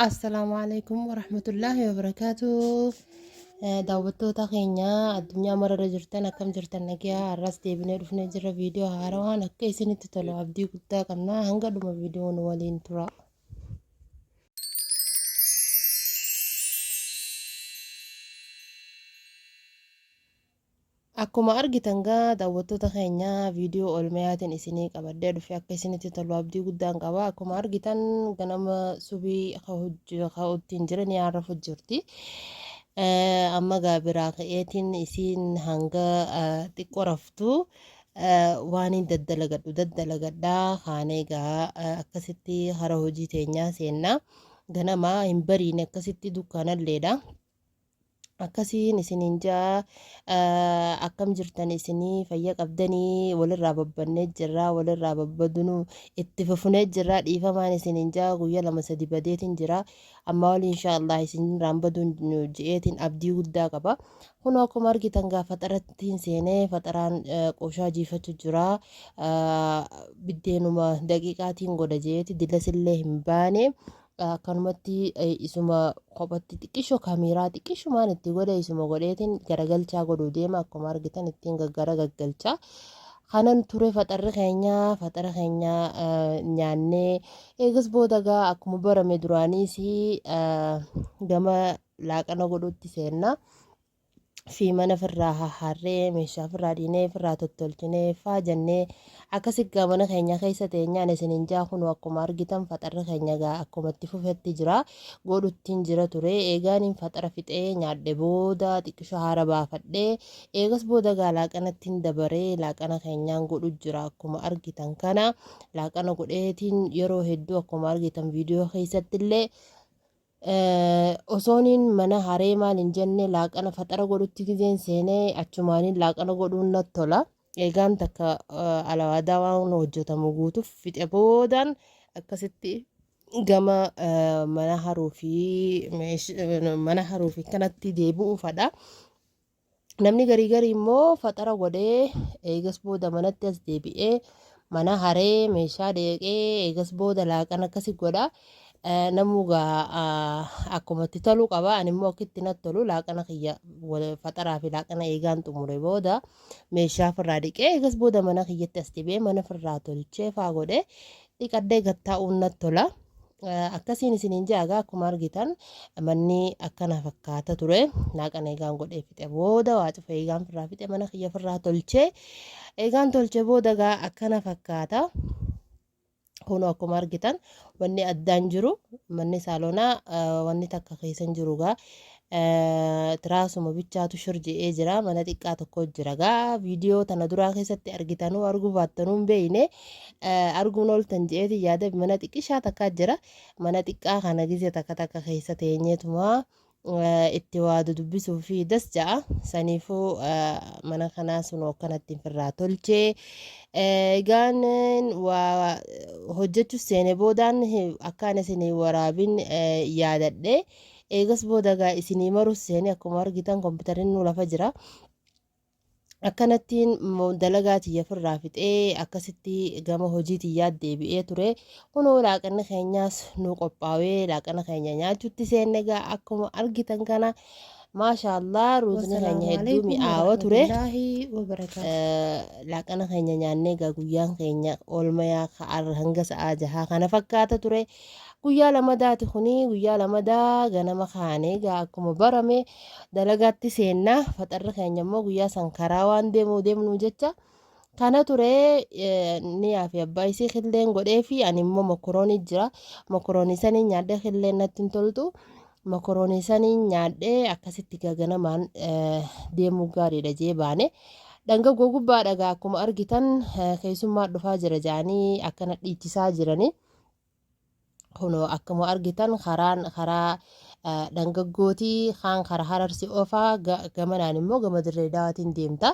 Assalaamu alaikum warahmatullaahi wabarakaatuh. Eh, Daawwattoota keenya addunyaa mararra jirtan akkam jirtan nagaa har'as deebinee dhufnee jirra viidiyoo haarawaan akka isinitti tolu abdii guddaa qabna hanga dhuma viidiyoo nu waliin tura. Akkuma argitan gaa daawwattoota keenya viidiyoo oolmayaatiin isinii qabadhee dhufe akka isinitti tolu abdii guddaan qaba akkuma argitan ganama subii ka'uttiin jira ni haarrafu jirti amma gaa biraa ka'eetiin isiin hanga xiqqoo raftu waan hin daddalagadhu daddalagadhaa kaanee gaa akkasitti hara hojii teenyaa seennaa ganama hin bariine akkasitti dukkaanalleedha. akkasiin isiniin ja'a akkam jirtan isinii fayya qabdanii walirraa babbannee jirraa walirraa babbadunu itti fufunee jirraa dhiifamaan isiniin ja'a guyya lama sadi badeetiin jira amma wali inshaallah isinirraan baduun ji'eetiin abdii guddaa qaba kun akkuma argitan gaa faxarattiin seenee faxaraan qooshaa jiifatu jira biddeenuma daqiiqaatiin godha jeeti dilasillee hin baane Akkanumatti isuma kophatti xiqqisho kameeraa xiqqishumaan itti godhe isuma godheetiin garagalchaa godhuu deema akkuma argitan ittiin gaggara gaggalchaa. Kanan ture faxarri keenya faxara keenya nyaannee eegas booda gaa akkuma barame duraaniis gama laaqana godhuutti seenna. fi mana firraa hahaarree meeshaa firraa dhiinee firraa tottolchinee faa jannee akkasi gaa mana keenya keessa teenyaan isinin jaa kunu akkuma argitan faxarri keenya gaa akkuma itti fufetti jira godhuttiin jira ture eegaaniin faxara fixee nyaadhe booda xiqqisho haara baafadhe eegas booda gaa laaqanattiin dabaree laaqana keenyaan godhu jira akkuma argitan kana laaqana godheetiin yeroo hedduu akkuma argitan viidiyoo keessatti illee Osoonin mana haree maal hin jenne laaqana faxara godhutti gizeen seene achumaanin laaqana godhuun natti tola. Eegaan takka alawaadaa waan hojjetamu guutuuf fixe boodaan akkasitti gama mana haruu fi mana haruu fi kanatti deebi'uufadha. Namni garii garii immoo faxara godhee eegas booda manatti as deebi'ee mana haree meeshaa deeqee eegas booda laaqan akkasi godha. Eh, Namuu gaa ah, akkuma itti tolu qaba. Ani immoo akka itti natti tolu laaqana kiyya wal- faxaraa fi laaqana eegaan xumure booda meeshaa firraa dhiqee eegas booda mana kiyyatti as deebi'ee mana firraa tolchee faa godhee dhiqadhee gad taa'uun natti tola. Eh, Akkasiin isiniin ja'a egaa akkuma argitan manni akkana fakkaata ture. Naaqan eegaan godhee fixe booda waa cufa eegaan firraa fixe mana kiyya firraa tolchee eegaan tolchee booda egaa akkana fakkaata. Kun akkuma argitan wanni addaan jiru manni saalonaa eh, wanni takka keessa hin jiru egaa Tiraasuma bichaatu shor je'ee jira mana xiqqaa tokko jira gaa viidiyoo tana duraa keessatti argitanuu arguu baattanuu hin beeyne arguun ooltan je'eeti yaada mana xiqqishaa takkaa jira mana xiqqaa kana gizee takka takka keessa teenyeetumaa itti waa dudubbisuu fi das ja'a saniifuu mana kanaa sun akkanatti firraa tolchee egaan waa hojjechuuf seene boodaan akkaan isin waraabin yaadadhe. Eegas booda egaa isinii marus seenee akkuma argitan kompiitarri nu lafa jira. Akkanattiin mo- dalagaa tiyya firraa fixee akkasitti gama hojii tiyyaa deebi'ee ture. Kunoo laaqanni keenyaas nu qophaawee laaqana keenya nyaachuutti seenne egaa akkuma argitan kana maashaallah ruuzni keenya Wassalaamu hedduu alaikum mi'aawa ture. warahmatullaahi wabarakaatu. Eh, laaqana keenya nyaannee egaa guyyaan keenya oolmayaa ka'aarra hanga sa'aa jahaa kana fakkaata ture. Guyyaa lamadaati kuni guyyaa lamadaa ganama kaane egaa akkuma barame dalagaatti seenna faxarri keenya immoo guyyaa san karaa waan deemuu deemnu jecha kana ture niyaa fi abbaa isii killeen godhee fi ani immoo mokoroonii jira mokoroonii sanii nyaadhee killeen natti hin toltu mokoroonii sanii nyaadhee akkasitti egaa ganamaan deemuu gaariidha jee baane. Dhanga gogubbaadha egaa akkuma argitan keessummaa dhufaa jira jedhanii akkana dhiichisaa jiranii. Kunoo akkuma argitan karaan karaa dhangaggooti kaan kara hararsi ofaa gamanaan immoo gama dirree dawaatiin deemta.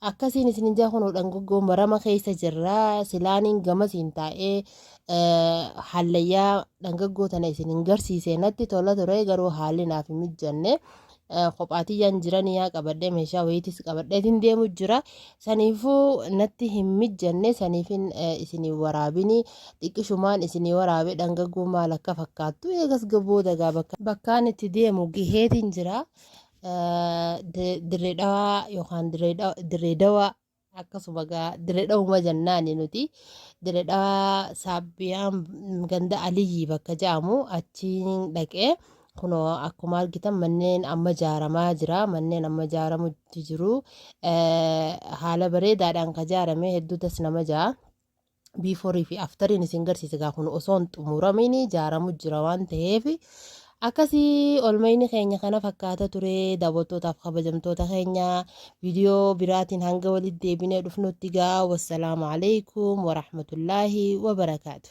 Akkasiin isin jaa kunoo dhangaggoo marama keessa jirra silaaniin gamasiin taa'ee hallayyaa dhangaggoo tana isin hin garsiise natti tola ture garuu haalli naaf hin mijanne kophaatiyyaan jiranii yaa qabadhee meeshaa wayiitis qabadheetiin deemu jira saniifuu natti hin mijjanne saniifin isinii waraabini xiqqishumaan isinii waraabe dhangaguu maal akka fakkaattu eegas gaboo dagaa bakkaan itti deemu giheetiin jira dirree dhawaa yookaan dirree dawaa akkasuma gaa diredhawuma jannaani nuti diredhawa saabbiyaan ganda aliyyii bakka ja'amu achiin dhaqee kuno akkuma argitan manneen amma jaaramaa jira manneen amma jaaramutti jiru haala bareedaadhaan ka jaarame hedduu das nama ja'a before fi aftariin isin garsiise gaa kun osoo hin xumuramiin jaaramu jira waan ta'eef akkasii olmayni keenya kana fakkaata ture daawwattootaaf kabajamtoota keenya viidiyoo biraatiin hanga walitti deebinee dhufnutti gaa wassalaamu alaikum warahmatullaahi wabarakaatu.